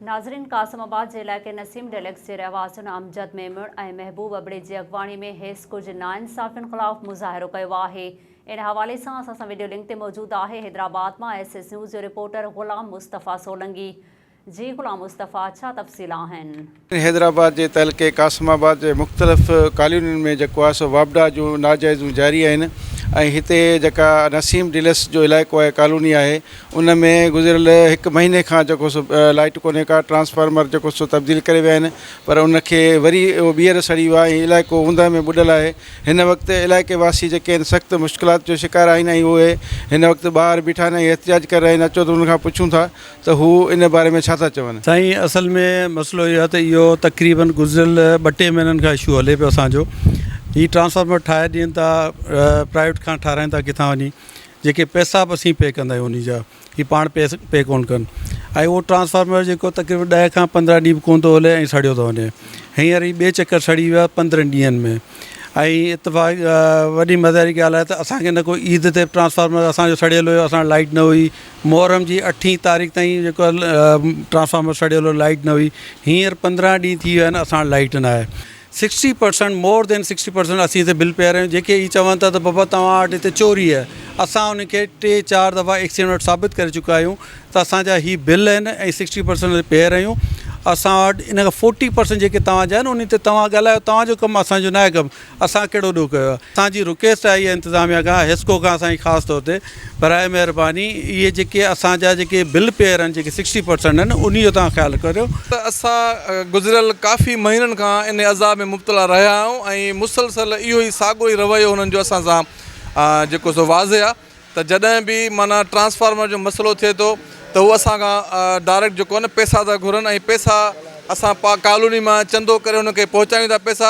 ناظرين قاسم آباد جي علائقي نسيم ڊيلڪس جي رهواسين امجد ميمڻ ۽ محبوب ابڙي جي اڳواڻي ۾ هيس ڪجهه ناانصافين خلاف مظاهرو ڪيو آهي ان حوالي سان اسان سان وڊيو لنڪ تي موجود آهي حيدرآباد مان ايس ايس نيوز جو رپورٽر غلام مصطفي سولنگي جي غلام مصطفي ڇا تفصيل آهن حيدرآباد جي تعلقي قاسم آباد جي مختلف ڪالونين ۾ جيڪو آهي سو واپڊا جون ناجائزون جاري آهن ۽ هتي جيڪا نسيم ڊيلس جو علائقو آهي ڪالوني آهي ان ۾ گذريل هڪ مهيني کان جيڪو سو لائٽ ڪونهي ڪا ٽرانسفارمر جيڪو سو تبديل ڪري ويا آهن پر ان کي وري اهو ٻيهر سڙي ويو آهي ۽ علائقو اوندهه ۾ ٻڏل آهي هن وقت علائقي واسي جيڪي آهن سخت مشڪلات جو شڪار آهن ۽ اهي هن وقت ٻاهر بيٺا آهن ۽ احتجاج ڪري رهيا آهن اچو ته انهن کان پڇون ٿا ته هو ان باري ۾ ڇا ٿا چون؟ سائين اصل ۾ مسئلو اهو آهي ته اهو تقريبن گذريل ٻه ٽي مهينن کان اشو هلي پيو اسان جو هي ٽرانسفارمر ٺاهي ڏين ٿا پرائيويٽ کان ٺاهرائين ٿا ڪٿان وڃي جيڪي پئسا به اسين پي ڪندا آهيون انهي جا هي پاڻ پئسا پي ڪون ڪن ۽ اهو ٽرانسفارمر جيڪو تقريبن ڏهه کان پندرهن ڏينهن به ڪون ٿو هلي ۽ سڙيو ٿو وڃي هينئر هي ٻي چڪر سڙي ويو آهي پندرهن ڏينهن ۾ ۽ اتفاق وڏي مزي واري ڳالهه آهي ته اسانکي نه ڪو عيد تي ٽرانسفارمر اسانجو سڙيل هيو اسان وٽ لائٽ نه هئي محرم جي اٺين تاريخ تائين جيڪو ٽرانسفارمر سڙيل هو لائٽ نه هئي هينئر پندرهن ڏينهن ٿي ويا آهن اسان وٽ لائٽ نه آهي sixty percent more than sixty percent اسين هتي بل پيا رهيون جيڪي هي چون ٿا ته بابا توهان وٽ هتي چوري آهي اسان ان کي ٽي چار دفعا ايڪسين وٽ ثابت ڪري چڪا آهيون ته اسانجا هي بل آهن ۽ سڪسٽي پرسنٽ هتي پيا رهيون اسان وٽ ان کان فورٽي پرسنٽ جيڪي توهانجا آهن ان تي توهان ڳالهايو توهانجو ڪم اسانجو ناهي ڪم اسان ڪهڙو ڏوهه ڪيو آهي. اسان جي رڪويسٽ آهي اها انتظاميا کان حسڪو کان سائين خاص طور تي براء مهرباني اهي جيڪي اسان جا جيڪي بل پيئر آهن جيڪي سڪسٽي پرسنٽ آهن انهي جو توهان خيال ڪريو. اسان گذريل ڪافي مهينن کان ان عذاب ۾ مبتلا رهيا آهيون ۽ مسلسل اهو ئي ساڳو ئي رويو هنن جو اسان سان جيڪو سو واضح آهي ته جڏهن به معنيٰ ٽرانسفارمر جو مسئلو ٿئي ٿو ته هو اسان کان ڊائريڪٽ جيڪو آهي نه پئسا ٿا گهرن ۽ پئسا اسان پا ڪالوني مان چندو ڪري هنن کي پهچايون ٿا پئسا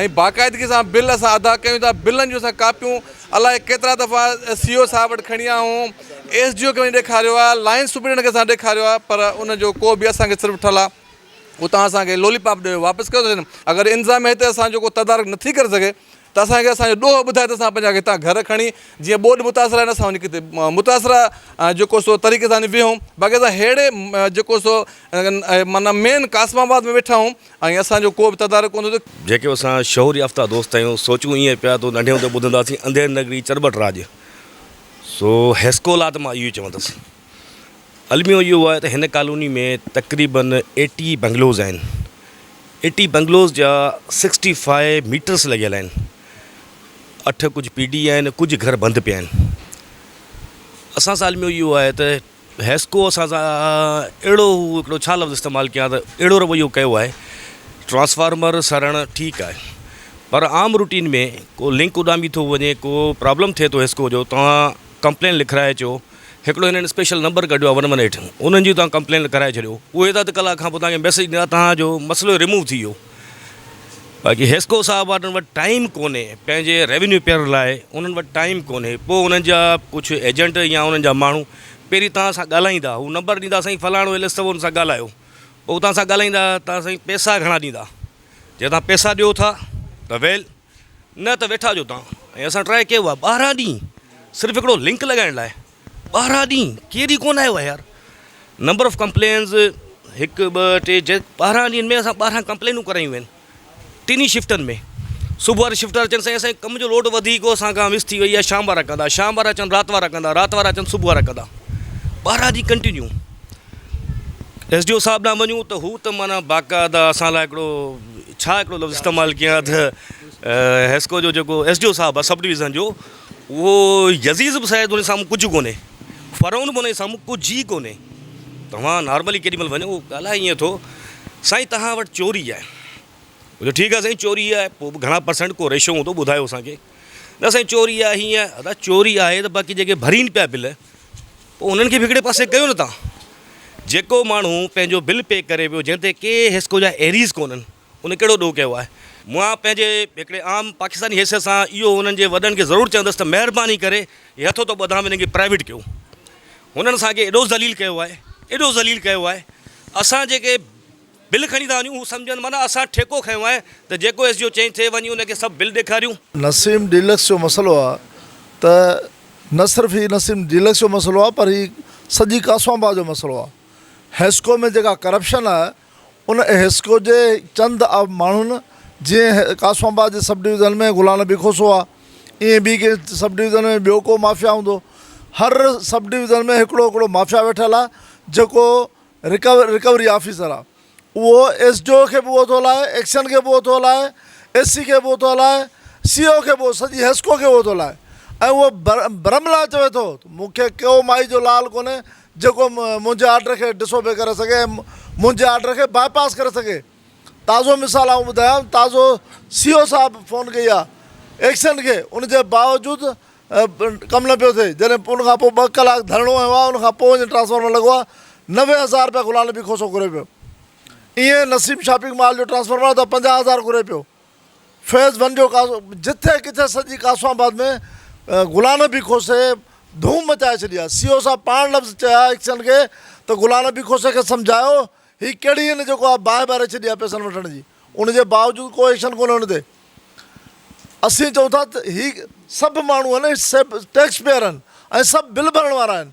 ۽ باقاعدگي سان بل اسان ادا ڪيون ٿا بلن جون اسان ڪاپيون الائي ڪيترا دفعا سي او صاحب وٽ کڻي آيا آهيون ايس ڊي او کي وڃي ڏيکاريو آهي لائن سپريڊنٽ کي اسان ڏيکاريو آهي پر ان جو ڪو به اسان کي صرف ٺلا اتان اسان کي لولي پاپ ڏيئي واپس ڪيو اٿن اگر انتظاميا هتي اسان جو ڪو تدارڪ نٿي ڪري سگهي ته اسان کي اسان جو ڏوهه ٻڌائي ته اسان پنهنجا هتان گهر کڻي جيئن ٻوڏ متاثر آهن اسان وڃي ڪٿي متاثر جيڪو سو طريقي سان ويهون باقي اسان ههڙي جيڪو سو معنيٰ مين قاسم آباد ۾ ويٺا آهيون ۽ اسان جو ڪو به تدارڪ ڪونه ٿيو. جيڪي اسان شعور يافته دوست آهيون، سوچون ائين پيا تو ننڍي هوندي ٻڌنداسين انڌير نگري چرٻٽ راڄ، سو هيسڪولا ته مان اهو ئي چوندس. الميو اهو آهي ته هن ڪالوني ۾ تقريباً ايٽي بنگلوز آهن. ايٽي بنگلوز جا سڪسٽي فائي ميٽرس لڳيل آهن. اٺ ڪجهه پي ڊي آهن، ڪجهه گهر بند پيا آهن. اسان سان الميو اهو آهي ته. هيسڪو اسان سان اهڙو هو هڪڙو ڇا لفظ استعمال ڪيان ته اهڙو رويو ڪيو آهي ٽرانسفارمر سڙڻ ٺيڪ آهي پر عام روٽين ۾ ڪو لنڪ اڏامي ٿو وڃي ڪو پرابلم ٿئي ٿو هيسڪو جو توهان ڪمپلين لکرائي اچو هڪڙو هنن اسپيشل نمبر ڪڍيو آهي ون ون ايٽ انهن جي توهان ڪمپلين لکرائي ڇڏيو اهي اڌ ڪلاڪ کان پوء توهان کي ميسج ڏيندا توهان جو مسئلو ريموو ٿي ويو باقي حيسڪو صاحب وارن وٽ ٽائيم ڪونهي پنهنجي ريونيو پيئر لاء انهن وٽ ٽائيم ڪونهي پوء انهن جا ڪجهه ايجنٽ يا انهن جا ماڻهو پهرين توهان سان ڳالهائيندا هو نمبر ڏيندا سائين فلاڻو ايل ايس اٿو ان سان ڳالهايو پوء توهان سان ڳالهائيندا ته سائين پيسا گهڻا ڏيندا جي توهان پيسا ڏيو ٿا ته ويل نه ته ويٺا ھجو تان ۽ اسان ٽرائي ڪيو آ ٻارهن ڏينهن صرف هڪڙو لنڪ لڳائڻ لاء ٻارهن ڏينهن ڪير ئي ڪون آيو آ يار نمبر آف ڪمپلينز هڪ ٻه ٽي جي ٻارهن ڏينهن ۾ اسان ٻارهن ڪمپلينون ڪرايون آهن ٽنهي شفٽن ۾ صبح واري شفٽ وارا چون سائين اسان ڪم جو لوڊ وڌي ويو اسان کان مس ٿي وئي آ شام وارا ڪندا شام وارا چون رات وارا ڪندا رات وارا چون صبح وارا ڪندا ٻارهن ڏينهن ڪنٽينيو ايس ڊي او صاحب ڏانهن وڃون ته هو ته معنيٰ باقاعده اسان لاء هڪڙو ڇا هڪڙو لفظ استعمال ڪيان ته حيسڪو جو جيڪو ايس ڊي او صاحب آ سب ڊويزن جو اهو يزيز به شايد انهي سامهون ڪجهه ڪونهي فرعون به انهي سامهون ڪجهه ئي ڪونهي توهان نارملي ڪيڏي مهل وڃو ڳالهائي ائين ٿو سائين توهان وٽ چوري آهي ٺيڪ آهي سائين چوري آهي پوء به گهڻا پرسنٽ ڪو ريشو هوندو ٻڌايو اسان کي. نه سائين چوري آ هيئن آ ادا چوري آهي ته باقي جيڪي ڀرين پيا بل پوء انهن کي به هڪڙي پاسي ڪيو نه تان جيڪو ماڻهو پنهنجو بل پي ڪري پيو جنهن تي ڪي حسڪو جا ايريز ڪونهن ان ڪهڙو ڏوهه ڪيو آهي. مان پنهنجي هڪڙي عام پاڪستاني حيثيت سان اهو انهن جي وڏن کي ضرور چوندس ته مهرباني ڪري هي هٿ هوتو ٻڌام هنن کي پرائيويٽ ڪيو هنن اسان کي ايڏو ذليل ڪيو آهي ايڏو ذليل ڪيو آهي اسان جيڪي بل کڻي ٿا وڃون هو سمجهن معنيٰ اسان ٺيڪو کنيو آهي ته جيڪو ايس ڊي او چئين ٿي وڃي ان کي سڀ بل ڏيکاريون. نسيم ڊيلڪس جو مسئلو آ ته نه صرف هي نسيم ڊيلڪس جو مسئلو آ پر هي سڄي ڪاسوان باغ جو مسئلو آ حيسڪو ۾ جيڪا ڪرپشن آ ان حيسڪو جي چند ماڻهن جيئن ڪاسوان باغ جي سب ڊويزن ۾ غلام نبي کوسو آ ائين ٻي ڪنهن سب ڊويزن ۾ ٻيو ڪو مافيا هوندو هر سب ڊويزن ۾ هڪڙو هڪڙو مافيا ويٺل آ جيڪو رڪوري آفيسر آ اهو ايس ڊي او کي به اهو ٿو هلائي ايڪشن کي به اهو ٿو هلائي ايس سي کي به اهو ٿو هلائي سي او کي به سڄي حيسڪو کي اهو ٿو هلائي ۽ اهو برم لاء چوي ٿو مون کي ڪو مائي جو لال ڪونهي جيڪو منهنجي آرڊر کي ڊس اوبي ڪري سگهي ۽ منهنجي آرڊر کي باء پاس ڪري سگهي تازو مثال آئون ٻڌايان تازو سي او صاحب فون ڪئي آ ايڪشن کي ان جي باوجود ڪم نه پيو ٿئي جڏهن ان کان پوء ٻه ڪلاڪ ڌرڻو هنيو آهي ان کان پوء وڃي ٽرانسفارمر لڳو آهي نوي هزار رپيا غلام نبي کوسو گهري پيو ائين نسيم شاپنگ مال جو ٽرانسفارمر آهي ته پنجاهه هزار گهري پيو فيز ون جو جتي ڪٿي سڄي قاسم آباد ۾ غلام نبي کوسي ڌوم مچائي ڇڏي آهي سي او صاحب پاڻ لفظ چيا ايڪشن کي ته غلام نبي کوسي کي سمجهايو هي ڪهڙي هن جيڪو آ باهه ٻاري ڇڏي آ پيسن وٺڻ جي ان جي باوجود ڪو ايڪشن ڪونه هن تي اسين چئون ٿا ته هي سڀ ماڻهو آهن سڀ ٽيڪس پيئر آهن ۽ سڀ بل ڀرڻ وارا آهن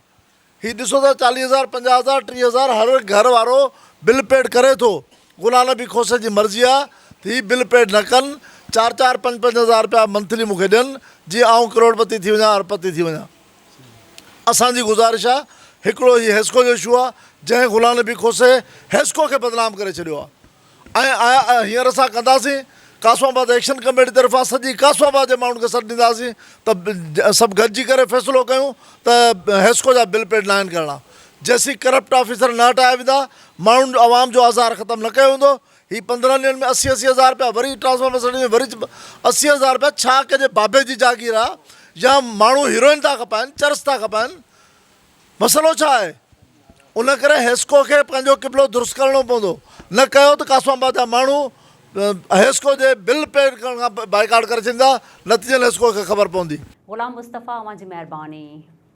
هي ڏسو ٿا چاليهه هزار پنجاهه هزار ٽيهه هزار هر گهر وارو بل پيڊ ڪري ٿو غلام نبي کوسي جي مرضي آ ته هي بل پيڊ نه ڪن چار چار پنج پنج هزار رپيا منٿلي مون کي ڏين جيئن آئون ڪروڙپتي ٿي وڃان اربپتي ٿي وڃان اسان جي گذارش آ هڪڙو هي هيسڪو جو اشو آ جنهن غلام نبي کوسي هيسڪو کي بدنام ڪري ڇڏيو آ ۽ هينئر اسان ڪنداسين قاسم آباد ايڪشن ڪميٽي طرفان سڄي قاسم آباد جي ماڻهن کي سڏ ڏينداسين ته سڀ گڏجي ڪري فيصلو ڪيون ته هيسڪو جا بل پيڊ ناهن ڪرڻا جيسين ڪرپٽ آفيسر نه هٽايا ويندا ماڻهن عوام جو آزار ختم نه ڪيو ويندو هي پندرهن ڏينهن ۾ اسي اسي هزار رپيا وري ٽرانسفارمر سٽي ۾ وري اسي هزار رپيا ڇا ڪنهنجي بابي جي جاگير آ يا ماڻهو هيروئن ٿا کپائن چرس ٿا کپائن مسئلو ڇا آهي ان ڪري حيسڪو کي پنهنجو قبلو درست ڪرڻو پوندو نه ڪيو ته قاسم آباد جا ماڻهو حيسڪو جي بل پي ڪرڻ کان بائيڪاٽ ڪري ڇڏيندا نتيجن حيسڪو کي خبر پوندي. غلام مصطفيٰ اوهان جي مهرباني.